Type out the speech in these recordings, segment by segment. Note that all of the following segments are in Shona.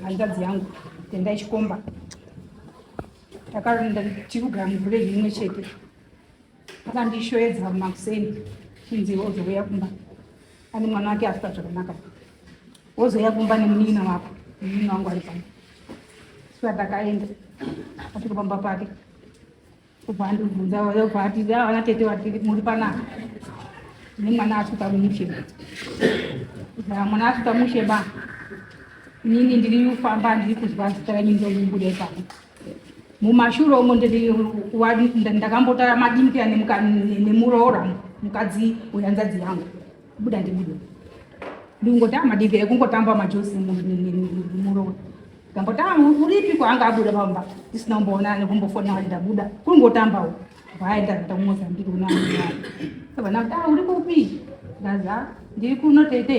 hanzvadzi yangu tendai chikomba takaenda tiri kugara muvhurezi imwe chete akandishoedza makuseni kunzi wozouya kumba ane mwana wake afuta zvakanaka wozouya kumba nemunin'ina wako munin'ina wangu ari pano saka takaenda asvika pamba pake kubva andibvunza obva ati avana ah, tete vati muri panaka nemwana asvika mushe mwana asvika mushe ba inini ndiri kufamba ndiri kuzwa zita renyu ndomubuda ipapo mumashure umo ndakambotara madimpira nemuroora mukadzi wehanzadzi yangu buda ndibude ndikungotama madimpira ekungotamba majosi muroora ndambotama uripi kwaanga abuda pamba ndisina kumboona nekumbofona kuti ndabuda kungotambawo vaenda kuita kumozambiki unaaa vana kuti ah, uri kupi ndaza ndiri kuno tete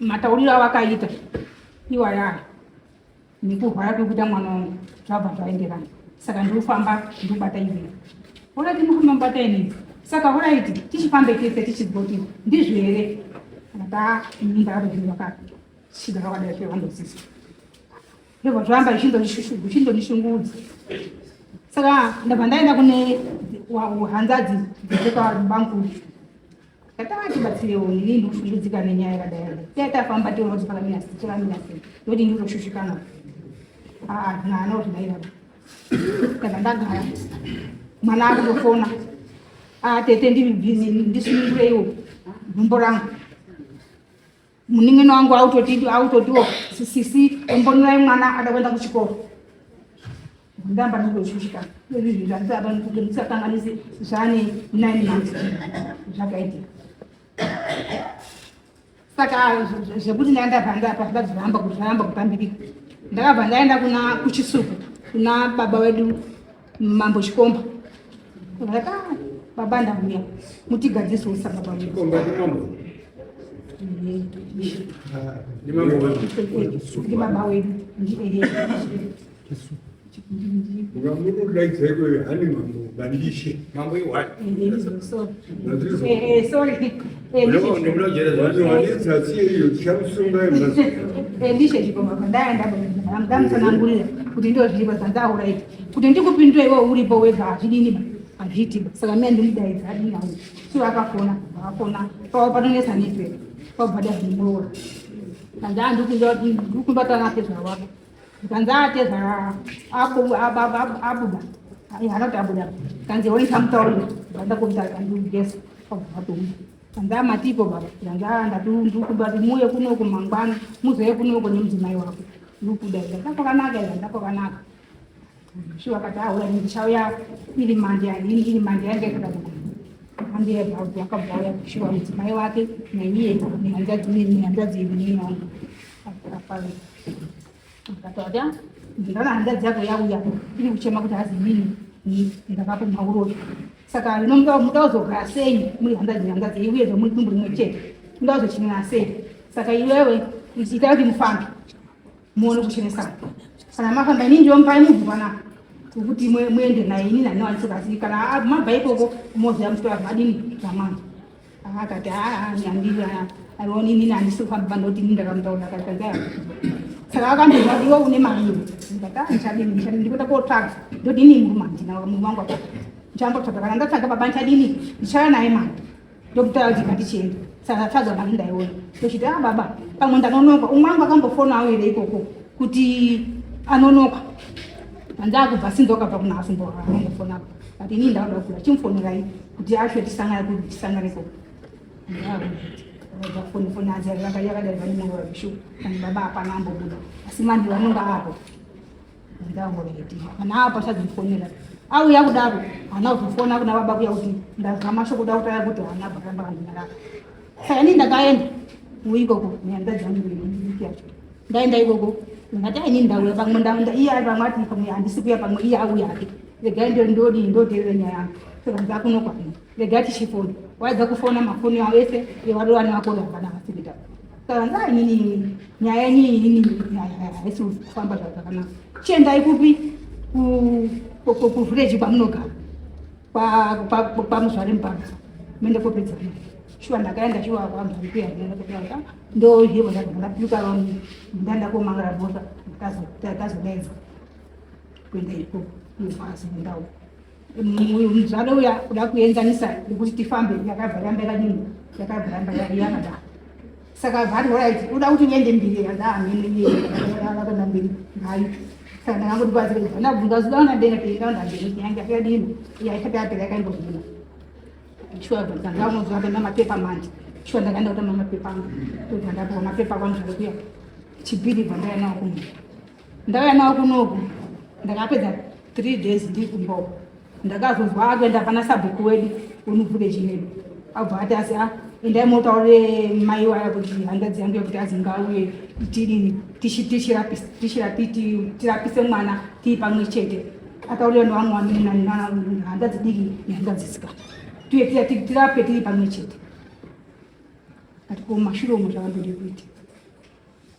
matauriro avakaita iwaya nekurwara kwekuita mwana wangu zvabva zvaenderana saka ndikufamba ndikubata ivei oraiti ndikufamba mubata inei saka oraiti tichifambe tese tichigoti ndizvo here ata nyumba yavo zvinhu vakashida vakadai zvevandosisa ndobva zvoramba ichindonishungudza saka ndabva ndaenda kune hanzadzi dzekwabangu Katanga tibatsirewo ini ndikushungudzika nenyaya yakadai. Dai tafamba tiona kuti pakamira sei, chakamira sei. Ndoti ndiri kushushikana. Ah, mwana kuti mai baba. Kana ndagara. Mwana akutofona. Ah, tete ndiri busy, ndisunungureiwo. Gumbo rangu. Munin'ina wangu autoti autotiwo sisi ombonurai mwana ada kuenda kuchikoro. Ndamba ndozvishika. Izvi zvinhu zvanditi apa ndikuti ndisakanganisi zvane nine months zvakaitika. Saka zvekuti ndaenda panda apa zviba zvihamba kuti zvahamba kupambirika. Ndakabva ndaenda kuna kuchisuku kuna baba wedu Mambo Chikomba. Raka baba ndamuya. Mutigadzise usa baba. Chikomba ndi mambo. Ndi mambo wedu. Ndi baba wedu. Ndi ehe. Ngamuru like zeko hani mambo bandishe. Mambo iwani. Eh, eh, eh, sorry. ndamutsanangurira kuti ndozviiva dzandaura iti kuti ndikupindura iwe uripo wega hazvidini ba hazviiti ba saka mia ndimudaidza adini au so akafona akafona pava panonetsa nepe pabada zvimuroora andaa ndikubatana pezvavako Kanzi ateza apo abuda. Haakati abuda. Kanzi hoi samutaurira. Ndaenda kumutara kanzi ugesa. Kwabvatomba. Kanzi amatipo baba. Kanzi ndatundukuba muye kuno kumangwana. Muzoye kuno kune mudzimai wako. Ndukuda. Ndapakanaka. Ndapakanaka. Shuwa kati ahura ndichauya iri mande yanini iri mande yange kuda ambire bhaudhi wakabhauya kushuwa mudzimai wake naiye nehanzvadzi neni hanzvadzi yedu neni wangu akapave akatauya ndingaona hanzvadzi yako yauya iri kuchema kuti hazi nini ndakapo mauroyi saka nomuda kuzogara sei muri hanzvadzi hanzvadzi yei uye zvamuri dumbu rimwe chete muda kuzochinira sei saka iwewe itai kuti mufambe muone kuchenesa kana mafamba ini ndiomupai mubvu panapa wekuti muende naye ini nani wanisobatsiri kana mabva ikoko moziva mutora vadini zvamwana akati handioni inini handisi kufamba pandoti ini ndakamutaura kaaa saka akandiva kuti iwe une maviri ndikataichadini ndichadini ndikuda kotsvaga ndodini murume handina murume wangu apa ndichambotsvaga kana ndatsaga baba ndichadini ndichaya naye mari ndokutaura kuti ngatichienda saka tadza mari ndaiona ndochiti a ah, baba pamwe ndanonoka umwe wangu akambofona auire ikoko kuti anonoka andakubva sinzi wakabva kuna asumbo angofona but ini ndauda kula chimfonerai kuti asho tisangane kuti tisangane ko ndafoni foni azi yakadai vane mwoyo wabishu ani baba hapana ambobuda asi mandi vanonga apo ndangoreti kana apa chadzimfonera auya kudaro hana kuzofona kuna baba kuya kuti ndazama sho kuda kutaya kuti hana bakamba kanyara saka ini ndakaenda uikoko nyanda dzangu yacho ndaenda ikoko ndati aini ndauya pamwe ndaenda iye ari pamwe ati pamwe handisi kuya pamwe iye auya ake regai ndodii ndoteerera nyaya yangu saka ndakunokwanira The Dutch chief order. Why the kufona mafoni awo ese yevarovani vako vakana vasikita. Saka ndaa inini nyaya yenyu inini haisi kufamba zvakanaka. Chiendai kupi kuvhireji kwamunogara kwamuzvare mupanga mende kopedza shuwa ndakaenda shuwa kwambaikuyaaa ndohebo ndapika ndandakomangara bota ndakazodaidzwa kuenda ikoko ndikwazi ndau uyu muzvare uya kuda kuenzanisa nekuti tifambe yakabva yamba yakadini yakabva yamba yakadaro saka vari orit uda kuti uende mbiri yadaamheneyeyakona mbiri ngayo saka ndakangoti kwazira kuti ndabvunza zuva unadena peikaundamberi yange yakadini yaisati yapera yakaimbovhuna shuwa dzangamuzuva pena mapepa manje shuwa ndakaenda kutama mapepa angu tobva ndapuwa mapepa kwanzvare kuya chibhiri bva ndaya nawo kumwe ndauya nawo kunoku ndakapedza three days ndiri kumboko ndakazonzwa akuenda pana sabhuku wedu unubvuke chinedu abva ati asi a endai motaurire mai waya kuti handazi yangu yekuti azinga uye tidini tirapise mwana tii pamwe chete ataurira nevamwe vanenhandazi diki nehandazi sikana tuye tirape tiri pamwe chete ati ko mashure omo zvavandode kuita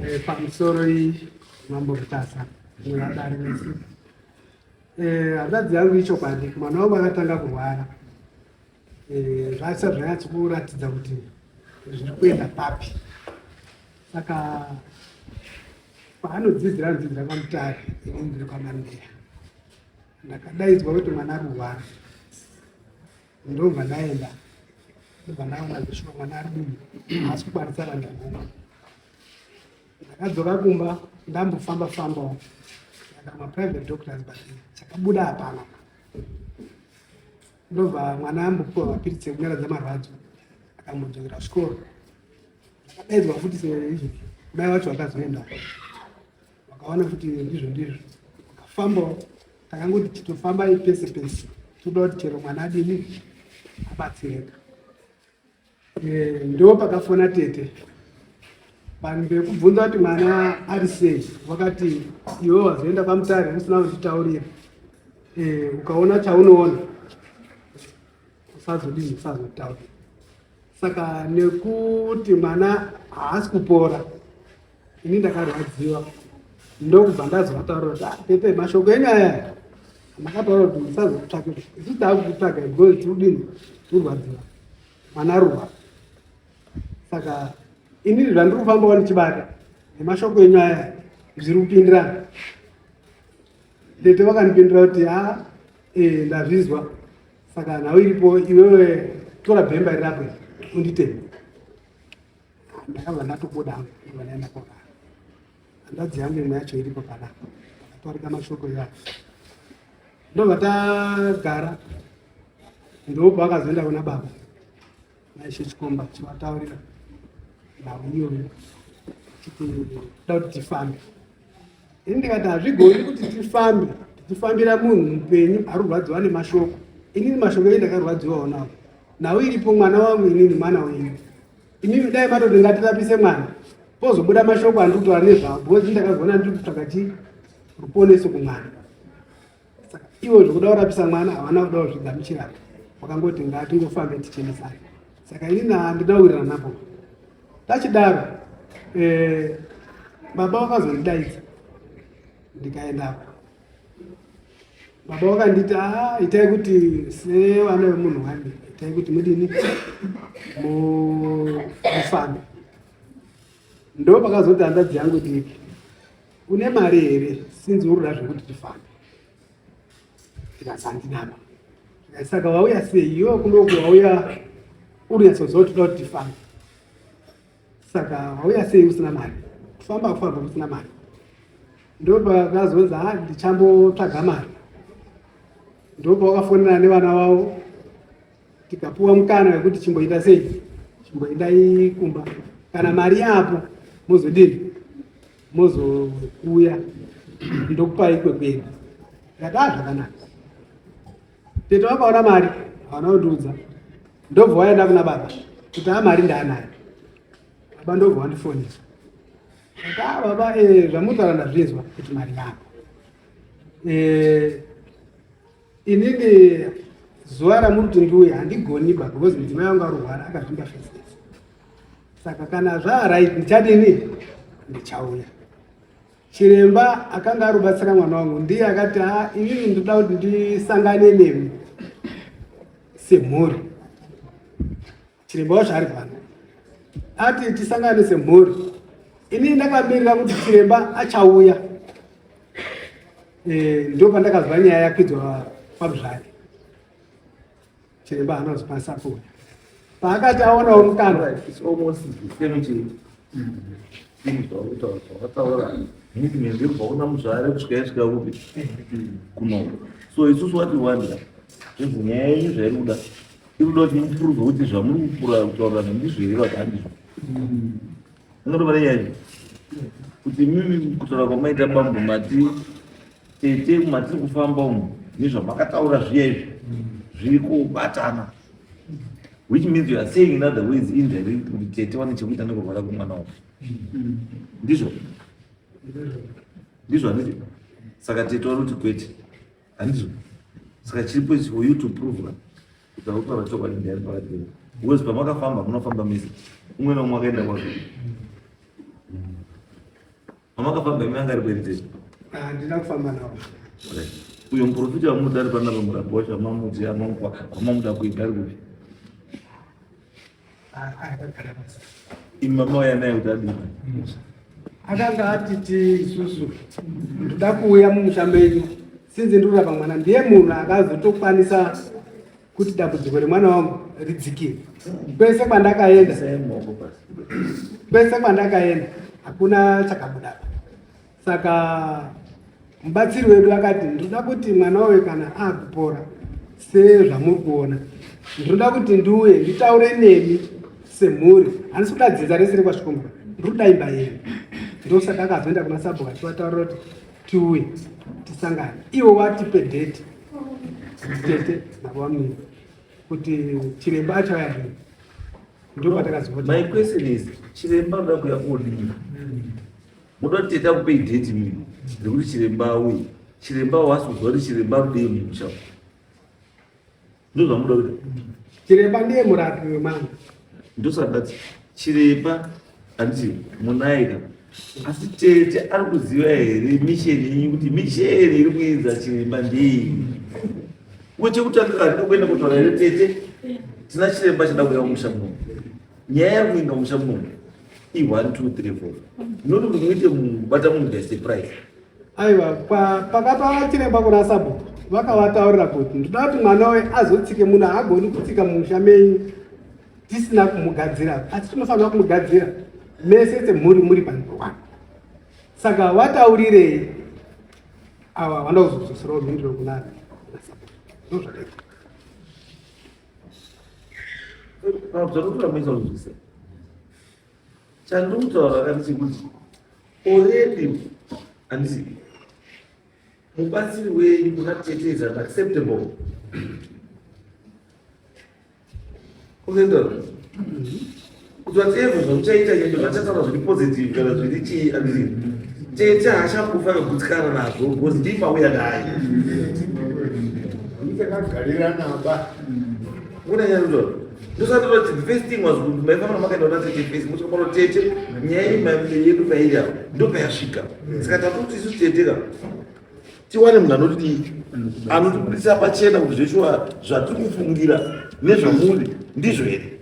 Eh, pamusoro iyi mambo mutasa nevadari vese eh, hanzvadzi yangu ichokwadi mwana wangu akatanga kurwara eh, zvasa zvanyatsi kuratidza kuti zviri kuenda papi saka paanodzidzira anodzidzira kwamutari inindiri kwamandeya ndakadaidzwa kuti mwana ari kurwara ndobva ndaenda ndobva ndaona zveshuwa mwana ari dini haasi kukwanisa vana ngoma ndakadzoka kumba ndambofamba fambawo ndakamaprivate doctors but chakabuda hapana ndobva mwana ambopiwa mapiritsi ekunyaradza marwadzo akambodzokera zvikoro akadaidzwa futi seizvi kudai vacho vakazoenda vakaona kuti ndizvo ndizvo vakafambawo takangoti titofambai pese pese toda kuti chero mwana adini abatsireka eh, ndo pakafona tete vanhu vekubvunza kuti mwana ari sei vakati iwe wazoenda pamutare usina kuzvitaurira eh, ukaona chaunoona usazodii usazotaura saka nekuti mwana haasi kupora ini ndakarwadziwa ndokubva ndazovataura kuti ah, tete mashoko enyu aya makataura kuti musazotsvake isu taakukutsvaga because tiudini turwadziwa mwana ruwa saka ini zvandiri kufambawo ndichibata nemashoko enyu aya zviri kupindirana tete vakandipindira kuti ha ah, eh, ndazvizwa Saka nhau iripo iwewe tora bhemba iri rako unditeme. Ndakabva ndatobuda hangu ndikabva ndaenda kona. Hanzvadzi yangu imwe yacho iripo pana takatorika mashoko iwayo. Ndobva tagara ndobva akazoenda kuna baba. Naishe Chikomba chivataurira nhau iyoyo chiti da kuti tifambe. Ini ndikati hazvigoni kuti tifambe tichifambira munhu mupenyu ari kurwadziwa nemashoko. Inini mashoko eyi ndakarwadziwawo nawo. Nhau iripo mwana wangu inini mwana wenyu. Inini dai matoti ngatirapise mwana pozobuda mashoko andiri kutaura nezvavo because ndakazona ndiri kutsvaka chii ruponeso kumwana. saka ivo zvekuda kurapisa mwana havana kuda kuzvigamuchira wakangoti ngatingofambe tichenesana saka ini handina kuwirirana napo tachidaro eh, baba vakazondidaidza ndikaendapo baba vakanditi a itai kuti sevana vemunhu wani itai kuti mudini mufambe ndo pakazoti handadzi yangu diki une mari here sinzi uruda zvekuti tifambe ndikazandinama saka wauya sei iwe kunoku wauya urinyatsozova toda kuti tifambe saka wauya sei usina mari kufamba kufamba usina mari ndopakazonzi ha ndichambotsvaga mari ndopa wakafonera nevana wavo tikapuwa mukana wekuti chimboenda sei chimboendai kumba kana mari yapo mozodini mozouya ndokupai kwekuenda ndakaa ah, zvakanaka tete vakaona mari havana kundiudza ndobva waenda kuna baba kuti a ah, mari ndaanayo baba ndobva wandifonesa akaa ah, baba eh, zvamutsara ndazvinzwa kuti mari yako eh, Inini zuva ramuri kuti ndiuye handigoni ba because mudzimai wangu arwara akazvimba first saka kana zvaarit ndichadini ndichauya chiremba akanga arubatsira mwana wangu ndiye akati a ah, inini ndoda kuti ndisangane nemi semhuri Chiremba wacho ari pano ati tisangane semhuri. Ini ndakamirira kuti chiremba achauya, eh, ndio pandakazwa nyaya yakwidzwa kwaMuzvare. Chiremba haana kuzokwanisa kuuya, paakati aonawo mukana zvauona muzvare kusvika yasvika kupi kuno so isusu wati wanda zvinhu nyaya yenyu zvairi kuda Tinoda kuti mupuruve kuti zvamuri kutaura ndizvo here kana handizvo. Munotobara nyaya iyi kuti imimi kutaura kwamaita bambo mati tete matiri kufamba umu nezvamakataura zviya izvi zviri kubatana which means you are saying in other ways indirect kuti tete vane chekuita nekurwara kwemwana wako ndizvo ndizvo handizvo saka tete vari kuti kwete handizvo saka chiripo ichi for you to prove that ndakutaura chokwadi ndiyani pakati penyu because pamakafamba munofamba mese umwe nomwe akaenda kwake pamakafamba imi anga ari kuendei handina kufamba navo uyo muprofita wamunoda ari panapa murabosha mamudzi amamupa amamuda kuita ari kupi imama uya naye kuti adini akanga atiti isusu ndoda kuuya mumusha menyu sinzi ndikurapa mwana ndiye munhu akazotokwanisa kuti dambudziko remwana wangu ridzikire kwese kwandakaenda kwese kwandakaenda hakuna chakabudapa saka mubatsiri wedu akati ndinoda kuti mwana wawe kana akupora sezvamuri kuona ndinoda kuti ndiuye nditaure nemi semhuri handisi kuda dzinza rese rekwasvikombura ndiri kuda imba yenyu ndosaka akazoenda kuna sabhuka tiwataurira kuti tiuye tisangane iwo watipe date tete navamini kuti chiremba achauya rii ndopatakazimai question is chiremba unoda kuya kuodii Muda kuti teta kupei date mimi nekuti chiremba uyu chiremba wasi kuziva kuti chiremba rudei mumusha ndozvamuda kuti chiremba ndiye murapi wemwana ndosandati chiremba anditi munaika asi tete ari kuziva here misheni yenyu kuti misheni iri kuinza chiremba ndei wechekutanga kandida kuenda kutaura here tete tina chiremba chada kuya mumusha muno nyaya iri kuinga mumusha muno i 1 2 3 4 ndinoti kuti muite bata munhu guys the price aiwa pakatwara chiremba kuna sabhuku vakavataurira kuti ndinoda kuti mwana we azotsike munhu haagoni kutsika mumusha menyu tisina kumugadzira asi tinofanira kumugadzira mese semhuri muri pandowana saka vataurirei ava vanoda kuzozosirawo mhindiro kunana ndozvakaita chandikutaura kati chekuti already handisi mubatsiri wenyu kuna tete is unacceptable unoendaona Kuti vatevwe zvamuchaita nyangwe zvachataura zviri positive kana zviri chii andiri tete hachakufa kagutsikana nazvo because ndipauya naye ndakagarira naba unanyanzvaro ndosandiro the first thing was kuti maifanira makaenda kuna tete face muchikaona tete nyaya yedu pairi apa ndopayasvika saka tatotisu tete ka tiwane munhu anoti anotibudisa pachena kuti zveshuwa zvatiri kufungira nezvamuri ndizvo here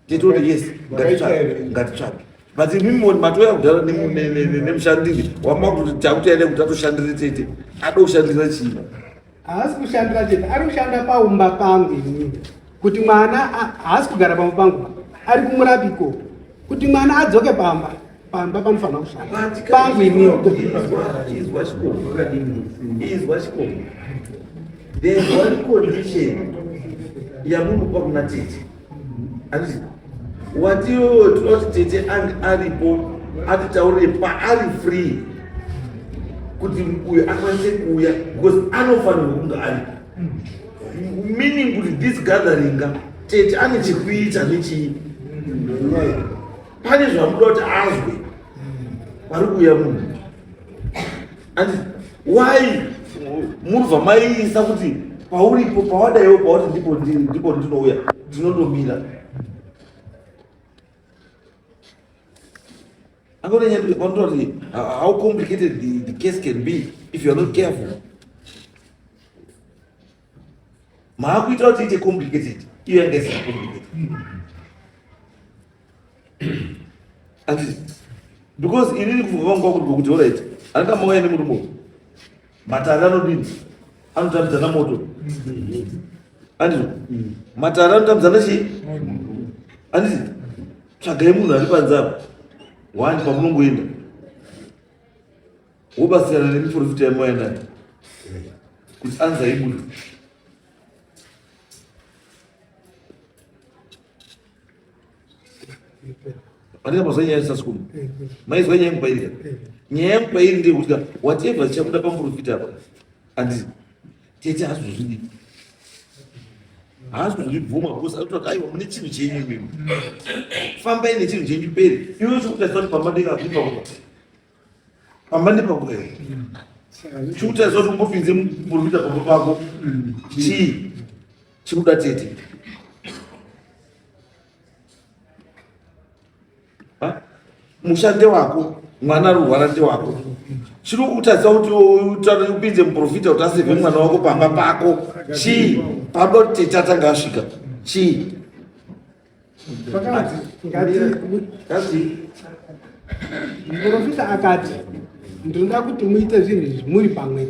titoti yes ngatitsvage but imimi matouya kudhara nemushandiri wamakuti takuti aida kuti atoshandire tete ada kushandira chii haasi kushandira chete ari kushanda paumba pangu inini kuti mwana haasi kugara pamwe pangu pa ari kumurapi ko kuti mwana adzoke pamba pamba panofanira kushanda pangu inini yamunopa kuna tete wati iwewe tinoti tete ange aripo atitaurire paari free kuti uyo akwanise kuuya because anofanirwa kunge aripo meaning kuti this gatheringa tete ane chekuita nechii pane zvamuda kuti azwe pari kuuya munhu And why munobva maiisa kuti pauripo pawadaiwo pawati ndipo ndiri ndipo ndinouya ndinondomira angonenyandikondoti how complicated the, the case can be if youare not careful maakuita kuti ite complicated iyo yanga isina complicated anditi because inini kufunga kwangu kwakuti kuti orit anga mauya nemurume uyu matare anodini anotambidzana moto anditi matare anotambidzana chii anditi tsvagai munhu ari panze apo wani pamunongoenda wobatsirana nemiporofita yamwaya nayo kuti anza ibude andina mazwa nyaya yasasukuma maizwa nyaya yangu pairi ka nyaya yangu pairi ndeyekuti ka whatever chichabuda pamuporofita apa andii tete hazvozvidi hazvozvibvuma bcause anotoa aiwa mune chinhu chenyu imimi fambai nechinhu chenyu peri iwe chokutasani pamba ndekazvipa kupa pamba nepakuda chikutariswa kuti ungopinze muprofita pamba pako chii chikuda tete musha ndewako mwana ari kurwara ndewako chiri kutaridza kuti utaure upinze muprofita kuti aseve mwana wako pamba pako chii pamba kuti tete atanga asvika chii vakati ngati muprofita akati ndinoda kuti muite zvinhu izvi muri pamwe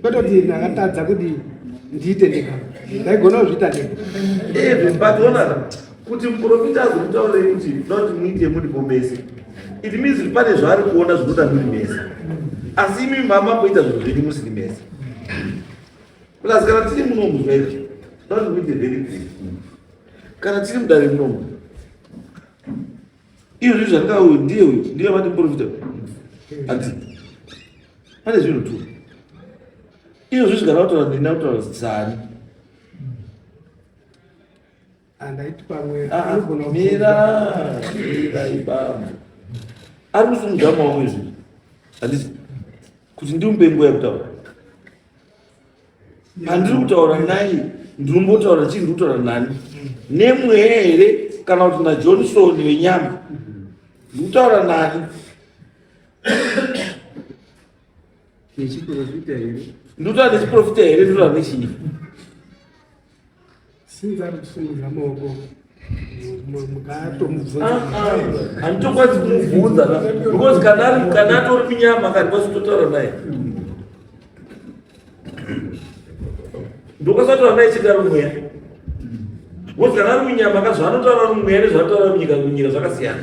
kwete kuti ndakatadza kuti ndiite ndega ndaigona kuzviita ndega kuti muprofita azokutaurei kuti ndoda kuti muite muri pomese it means kuti pane zvaari kuona zvinoda muri mese asi imi mama kuita zvinhu zvenyu musiri mese plus kana tiri muno muzvaizvo ndoda kuti muite very good kana tiri mudare munomu iyo zvinhu zvatinga uyu ndiye uyu ndiye vati muprofita hanzi pane zvinhu tu iyo zvinhu zvigara kutaura nina kutaura zani andaiti pamwe ah, ah, mira mira ibambo ari kusimudza maoko izvi handisi kuti ndimupe nguva yekutaura pandiri kutaura nai ndinombotaura chii ndiri kutaura nani nemweya here kana kuti najohnson venyama ndiri kutaura nani nechiprofita here ndiri kutaura nechiprofita here ndiri kutaura nechii since ari kusimudza maoko handitokwanisi kumubvunza because kana atori munyama akandikwanisi kutotaura naye ndokasataura naye chidaro mweya because kana ari munyama ka zvaanotaura ari mumweya nezvaanotaura munyika munyika zvakasiyana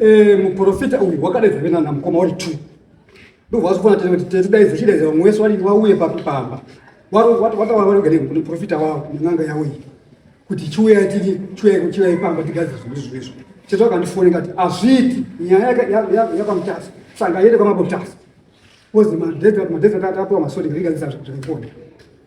Eh, muprofita uyu wakadaidza vena na mukoma wari two ndobva wazofana tete kuti tete daidza chidaidza vamwe wese wari wauye papi pamba wataura vari kugare kune profita wavo nen'anga yavo iyi kuti chiuyai tiri chiuyai chiuyai pamba tigadzira zvinhu izvo izvo tete wakandifoni kati hazviiti nyaya yapamutasa sanga yete kwamabotasa kozi madhedza madhedza tatapiwa masodi ngaigadzisa zvakakuona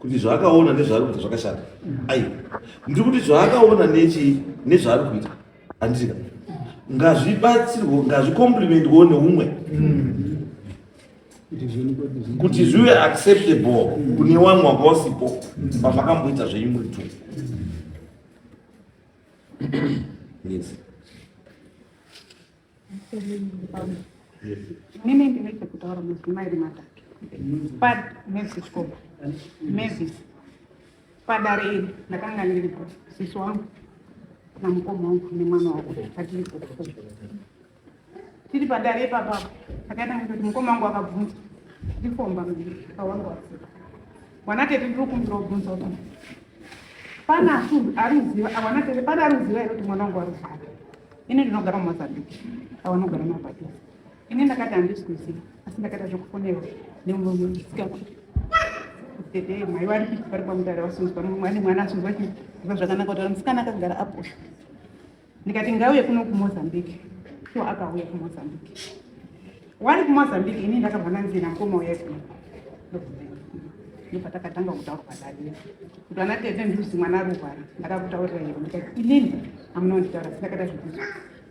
kuti zvaakaona nezvaari kuita zvakashata ai ndiri kuti zvaakaona nechii nezvaari kuita handika ngazvibatsirwo ngazvikomplimentwo neumwe kuti zvive acceptable kune wamwe wanga wasipo pamakamboita zvenyu muri two yes Mimi ndinenge kutaura mudzimai iri matatu pad mevisi chikoba mevisi padare iri ndakanga ndiripo sisi wangu namukoma wangu nemwana wako atiripo tiri padare ipapapo akaita kuti mukoma wangu akabvunza ndifomba mdiri kawangu asika Mwana tete ndiri kumbira kubvunza kuti pane asundu ari kuziva awana tete pane ari kuziva here kuti mwana wangu ari kuzara ini ndinogara mumozambique awanogara mumabhatisa ini ndakati handisi kuziva asi ndakaita zvekufonerwa nemurume ndisikakui tete mai vari kuiti vari kwamutare vasunzwa mumwe ane mwana asunzwa chiziva zvakanaka kuti musikana akagara aposha ndikati ngauye kuno kumozambique so akauya kumozambique wari kumozambique ini ndakabva ndanzina mukoma uya kuno ndopatakatanga kutaura padadira kuti ana tete nduzi mwana aruvara ndakakutaurira iro ndikati inini amuna kunditaura sindakada zvekuti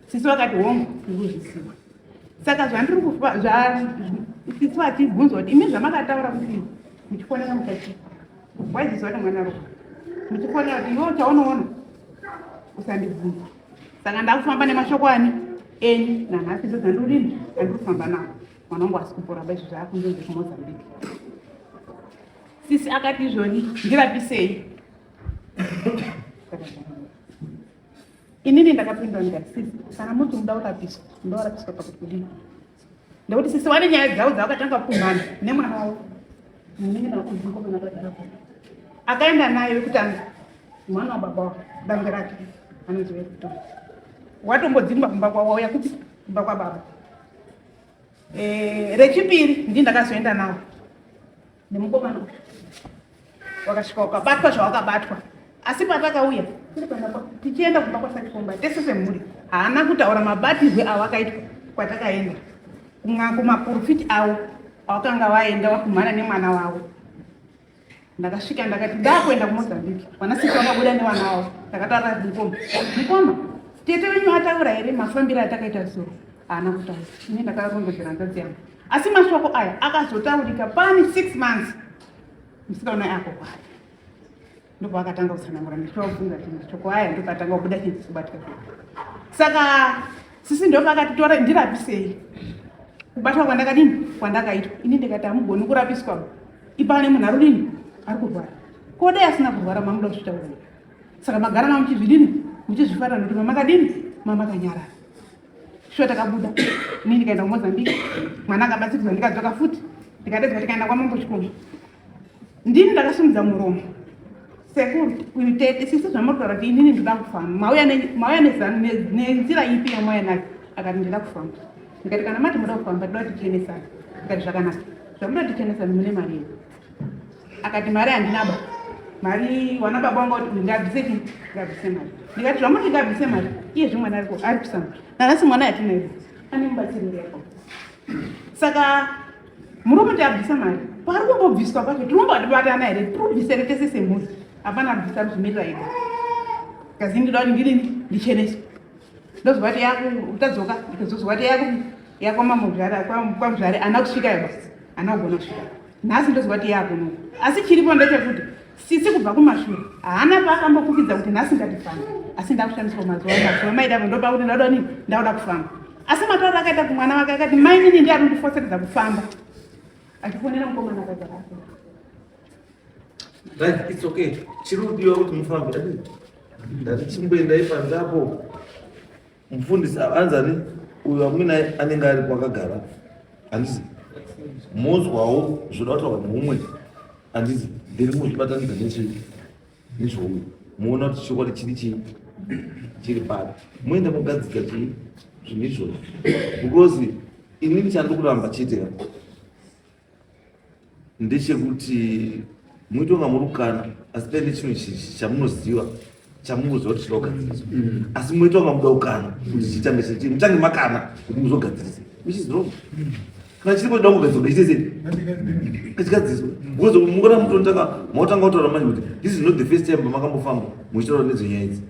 sisi vakati hongu ndikuzvisiwa saka zvandiri kufa sisi vachibvunzwa kuti imi zvamakataura kuti muchifonera mukachii Waizizwa nemwana ropa ndichifonera kuti iwe uchaunoona usandibvunza saka ndakufamba nemashoko ani enyu nanhasi dzo dzandiudini andiri kufamba nawo mwana wangu asi kupora ba izvo zvaakunzonzi kumozambique sisi akati izvoni ndirapisei inini ndakapindwa ndikati sisi kana muti muda urapiswa ndourapiswa pakuti kudii Ndokuti sisi wane nyaya dzavo dzavakatanga kumhana nemwana wavo akaenda naye wekutanga mwana wababa wavo danga rake anonzi wekutanga watombodzimba kumba kwavo wauya kuti kumba kwababa eh, rechipiri ndi ndakazoenda navo nemukomana wakasvika ukabatwa zvawakabatwa asi patakauya tichienda kumba kwasachikomba tese semhuri haana kutaura mabatirwe awakaitwa kwatakaenda kumaporofiti avo awakanga vaenda wakumhana nemwana wavo ndakasvika ndakati ndakuenda kumozambique vana sisi vakabuda nevana wavo ndakataura mukoma mukoma tete venyu ataura here mafambiro atakaita zuro haana kutaura ine ndakarongodzera nzadzi yangu Asi mashoko aya akazotaurika pane 6 months musikaona yako kwari ndipo akatanga kutsanangura ndichiofunga kuti mashoko aya ndipo atanga kubuda chinzi kubatika saka sisi ndipo akatitora ndirapisei kubatwa kwandakadini kwandakaitwa ini ndikati hamugoni kurapiswa ipane munhu arudini ari kurwara kodai asina kurwara mamuda kuzvitaura saka magara mamuchizvidini muchizvifarira nokuti mamakadini mamakanyarara shuwa takabuda ini ndikaenda kumozambique mwana akabatsiridzwa ndikadzoka futi ndikadedzwa tikaenda kwamambo chikomo ndini ndakasimudza muromo sekuru kuitete sisi zvamuri kutaura kuti inini ndida kufamba mauya nenzira ipi yamwaya nayo akati ndida kufamba ndikati kana mati muda kufamba toda kuti tichenesana ndikati zvakanaka zvamuda kuti tichenesana mune mari yenu akati mari handina ba mari wana baba wanga kuti ngabvise ti ngabvise mari ndikati zvamuti ngabvise mari iye zve mwana ariko ari kusa mari nanasi mwana yatina ivo ane mubatsiriri yako saka murume ti abvisa mari paari kumbobviswa kwacho tinombo atibatana here tibvisere tese semhuri hapana abvisa zvimirira ega kazi ndida kuti ndiri ndicheneso ndozova ti yaku utadzoka ndikazozova ti yaku yakwamamuzvare kwamuzvare ana kusvika yobasa Ana ugona kusvika. Nhasi ndoziva kuti yakuno. Asi chiripo ndechekuti sisi kubva kumashure haana paakambokukidza kuti nhasi ngatifamba asi ndakushandiswa mazuva mazuva maidavo ndopa kuti ndauda ni ndauda kufamba asi matauro akaita kumwana wake akati mainini ndi ari kundifoseredza kufamba achifonera mukomana akaita kake right it's okay chiri kudiwa kuti mufambe ndati chimboendai panzapo Mufundisi anzi ani uyo amwene anenge ari kwakagara handisi mozwawo zvoda kutaura neumwe handisi ndiri muzvibatanidza nezve nezvouyo muona kuti chokwadi chiri chii chiri pari muende mogadzika chii zvinhu izvozvo because inini chandikuramba chete ndechekuti muite kunga muri kukana asi paine chimwe chamunoziva chamunoziva kuti chinogadzirisa mm. asi muite kunga muda kukana kuti chitange chii mutange makana kuti muzogadzirisa which is wrong kana chiripo chida kugadzirisa ngachiite sei ngachigadziriswa because mukona mutonotanga mautanga kutaura manje kuti this is not the first time pamakambofamba muchitaura nedzonyaya idzi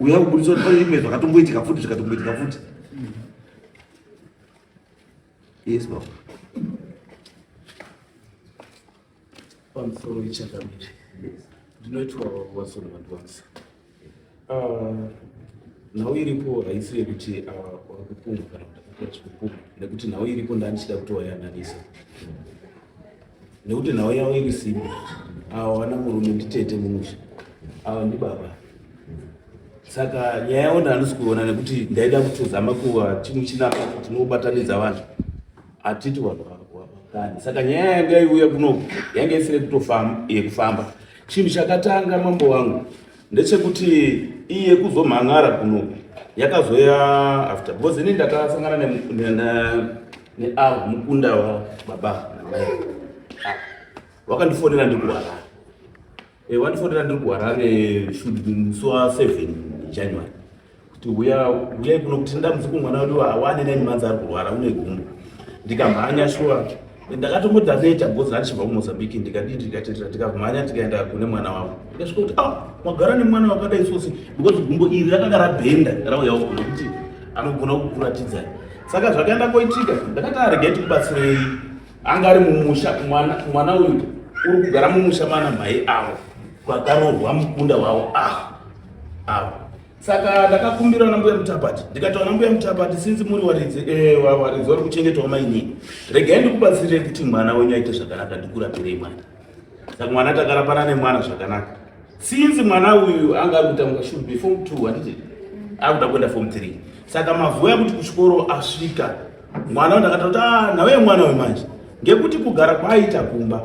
uya kubudisa kuti pane zvimwe zvakatomboitika futi zvikatomboitika futi Yes, mom. One for each other. Yes. Do not worry, what's on at once. Uh, nhau iripo haisi yekuti uh, wakupumha kana kuti ndakakura chikupumha nekuti nhau iripo ndandichida kutoyananisa nekuti nhau yavo iri simba avo vana murume nditete mumusha avo ndibaba saka nyaya yavo ndaanosi kuona nekuti ndaida kutozama kuva chimwe chinapa tinobatanidza vanhu hatiti vanhu vakani saka nyaya yanga iuya kuno yanga isiri kutofamba yekufamba chinhu chakatanga mambo wangu ndechekuti iye kuzomhan'ara kuno yakazoya after because ini ndakasangana neavo mukunda wababa namai ah, wakandifonera ndiri kuharare eh, wandifonera ndiri kuharare musi wa7 january kuti huya huyai kuno kuti ndamzuku mwana wedu awane neni manzi ari kurwara une gumbo ndikamhanya shuwa ndakatombodza neta bhozi randishibva kumozambique ndikadii ndikatetera tikamhanya tikaenda kune mwana wavo ndikasvika kuti ah magara nemwana wakadai sosi because gumbo iri rakanga rabhenda rauyawo kuno kuti anogona kukuratidzai saka zvakaenda koitika ndakati aregai tikubatsirei anga ari mumusha mwana uyu uri kugara mumusha mana mhai avo kwakarohwa mukunda wavo avo avo saka ndakakumbirawo nambuya mutabati ndikati wana mbuya mutabati sinzi muri waridzi eh, waridzi wari kuchengetwa mainini regai ndikubatsirei kuti mwana wenyu aite zvakanaka ndikurapirei mwana saka mwana takarapana nemwana zvakanaka sinzi mwana uyu anga ari kutanga shul before two handiti akuda kuenda form three saka mavuya kuti kuchikoro asvika mwana ndakata kuti ah, nawe mwana wemanje ngekuti kugara kwaaita kumba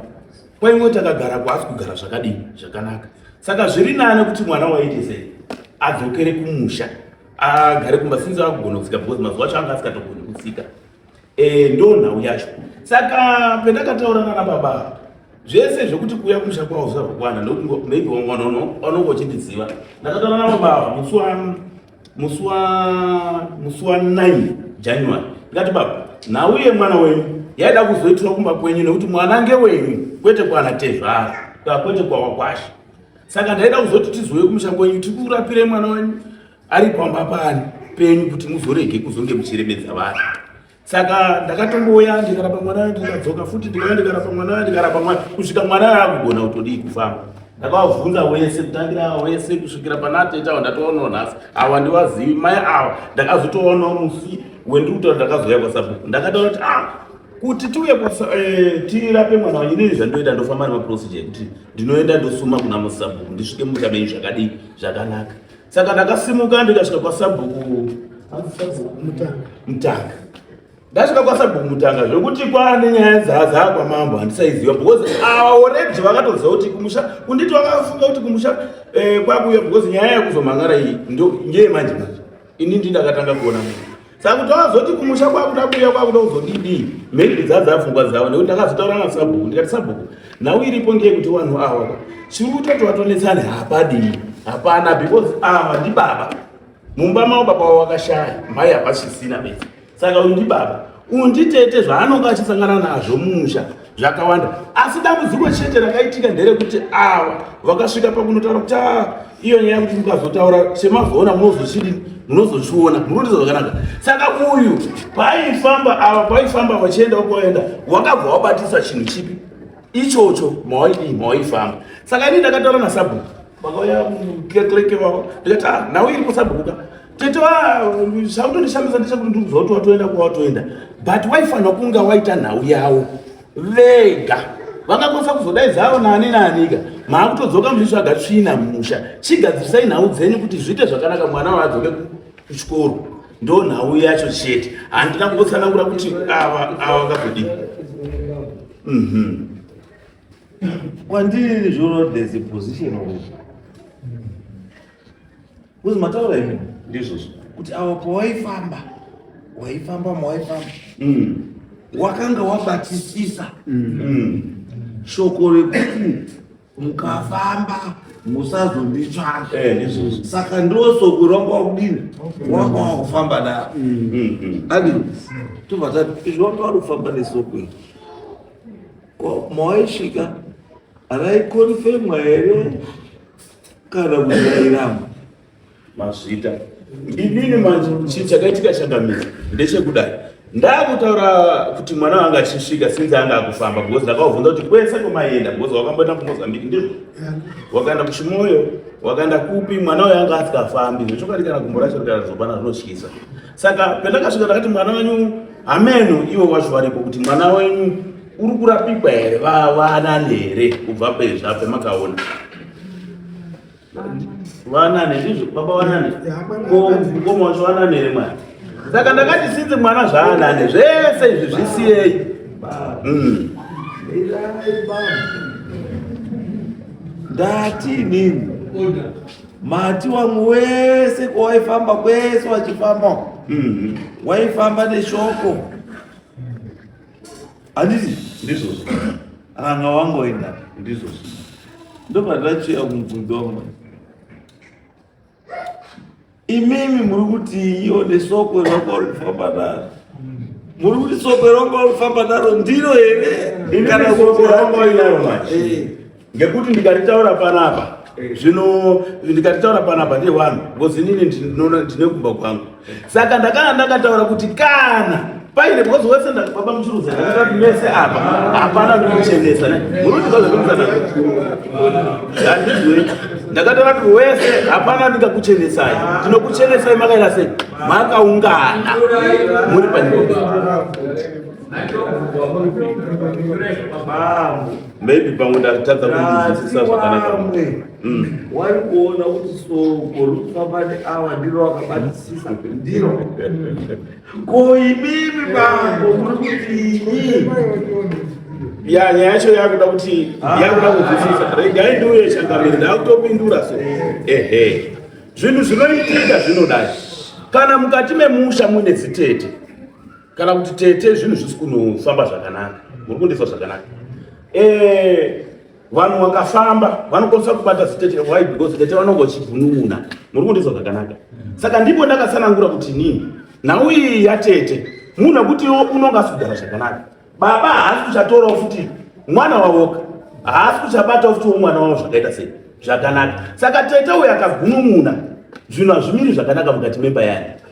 Kwa imwe takagara kwaasi kugara zvakadini zvakanaka. Saka zviri nane kuti mwana waite sei adzokere kumusha agare kumba sinzi akugona kutsika because mazuva acho anga asikatogoni kutsika. Eh ndo nhau yacho. Saka pendakataura nana baba zvese zvekuti kuya kumusha kwavo zvakwana ndokuti maybe wangonono wanongochidiziva. Ndakataura nana baba musi wani musi wa musi wa 9 January ndikati baba nhau yemwana wenyu yaida kuzoitirwa kumba kwenyu nekuti mwana ngewenyu kwete kwana tezvara ka kwete kwawakwasha saka ndaida kuzoti tizouye kumusha kwenyu tikurapire mwana wenyu ari pamba pani penyu kuti muzorege kuzonge muchiremedza vanhu saka ndakatongouya ndikarapa mwana ndikadzoka futi ndikauya ndikarapa mwana ndikarapa mwana kusvika mwana aakugona kutodii kufamba ndakavabvunza wese kutangira wese kusvikira panatetawa ndatoonawo nhasi awa ndiwazivi mai awa ndakazotoonawo musi wendiri kutaura ndakazouya kwasabhuku ndakataura kuti ah kuti tiuye eh, tirape mwana wanyu inini zvandoita ndofamba nemaprocedure ekuti ndinoenda ndosuma kuna musabhuku ndisvike mumusha menyu zvakadii zvakanaka saka ndakasimuka ndikasvika kwasabhuku mutanga ndasvika kwasabhuku mutanga zvekuti kwaane nyaya dzadzaa kwamambo handisaiziva because aoredi vakatoziva kuti kumusha kunditi vakafunga kuti kumusha eh, kwakuya because nyaya yakuzomhangara iyi ndeye manje manje ini ndindakatanga kuona munhu saka kuti wazoti kumusha kwakuda kuuya kwakuda kuzodidii maybe dzadza pfungwa dzavo nekuti ndakazotaura nasabhuku ndikati sabhuku nhau iripo ngeye kuti vanhu ava ka chiri kuita kuti vatonetsane hapadii hapana because ava ndibaba mumba mavo baba wavo vakashaya mhai hapasisina bese saka uyu ndibaba uyu nditete zvaanonga achisangana nazvo musha zvakawanda asi dambudziko chete rakaitika nderekuti ava vakasvika pakunotaura kuti ah, iyo nyaya kuti mukazotaura semazoona munozochii munozochiona munotiza zvakanaka saka uyu paifamba ava paifamba vachienda kwaenda wakabva wabatisa chinhu chipi ichocho mawaidii mawaifamba saka ini ndakataura nasabhuku vakauya klekleke vavo ndikati ah, nhau iripo sabhukuka tete zvakutondishamisa ndechekuti ndiri kuziva kuti watoenda kwawatoenda but waifanira kunga waita nhau yavo vega vangakwanisa kuzodaidzawo nani nanika maakutodzoka muchitsvaga tsvina mumusha chigadzirisai nhau dzenyu kuti zviite zvakanaka mwana waadzoke kuchikoro ndo nhau yacho chete handina kungotsanangura kuti ava ava vakazodii mhm. kwandiri zvino there's a position of Kuzi mataura imi ndizvozvo kuti awa pawaifamba waifamba mawaifamba mm. wakanga wabatisisa mm. mm. shoko rekuti mukafamba musazonditsvaka eh, saka ndosoko rwanga wakudini wanga wakufamba daro adi tobva tati izvi wanga wari kufamba nesoko iri mawaisvika raikonfemwa here kana kuzairama mazvita inini manje chinhu chakaitika chakamira ndechekudai ndakutaura kuti mwana wanga achisvika sinzi anga akufamba because ndakavabvunza kuti kwese kwemaienda because wakamboenda kumozambique ndizvo wakaenda kuchimoyo wakaenda kupi mwana uyo anga asingafambi zvechokwadi kana gumbo racho rikazopana zvinotyisa saka pendakasvika ndakati mwana wenyu hameno ivo wacho varipo kuti mwana wenyu uri kurapikwa here vavanani here kubva pezvape makaona vanani ndizvo baba vanani mukoma wacho vanani here mwana saka ndakati sinzi mwana zvaanani zvese izvi zvisiyei hmm. ndati nini Mati wangu wese kwawaifamba kwese wachifamba mm-hmm. waifamba neshoko handiti ndizvozvo ranga wangu waenda ndizvozvo ndopandachia kumubvunzo wangu imimi muri kuti iyo nesoko ranga uri kufamba naro muri kuti soko ranga uri kufamba naro ndiro here kana soko ranga uri naro manje ngekuti ndikaritaura panapa eh. zvino ndikaritaura panapa ndiye wanhu because inini ndinoona ndine kumba kwangu saka ndakana ndakataura kuti kana paine because wese ndababa muchiruza ndakati mese apa hapana ndikuchenesa munotiaandizwe ndakataura kuti wese hapana ndingakuchenesai ndinokuchenesai makaita sei makaungana muri panyika maybe pamwe ndatadza kunzwisisa zvakanaka vamwe mm. wari kuona kuti soko rikufamba neawa ndiro wakabatisisa ndiro ko imimi bambo muri kuti inyi ya nyaya yacho yakuda kuti ah. yakuda kunzwisisa regai ndiuye changamiri ndakutopindura so ehe zvinhu zvinoitika zvinodai kana mukati memusha muine zitete kana kuti tete zvinhu zvisi kunofamba zvakanaka muri kundisa zvakanaka eh, vanhu vakafamba vanokwanisa kubata zitete why because tete vanonge vachibvununa muri kundisa zvakanaka saka ndipo ndakatsanangura kuti nini nhau iyi yatete munhu akuti unonge asi kugara zvakanaka baba haasi kuchatorawo futi mwana wavoka haasi kuchabatawo futiwo mwana wavo zvakaita sei zvakanaka saka tete uyo akagunun'una zvinhu hazvimiri zvakanaka mukati memba yake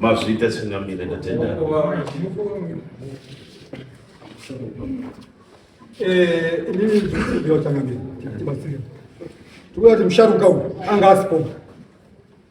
Mazvita chingamire ndatenda. Eh, inini ndiyotanga mimi. Tikuti musharuka uyu anga asipo.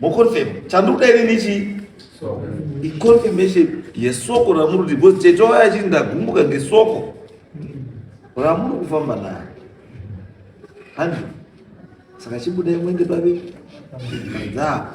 Moconfirm. Chandukuda ini nichi iconfirmation yesoko ramuri kuti because tete waya achiti ndagumbuka ngesoko ramuri kufamba nayo handi saka chibudai mwende babe dzapo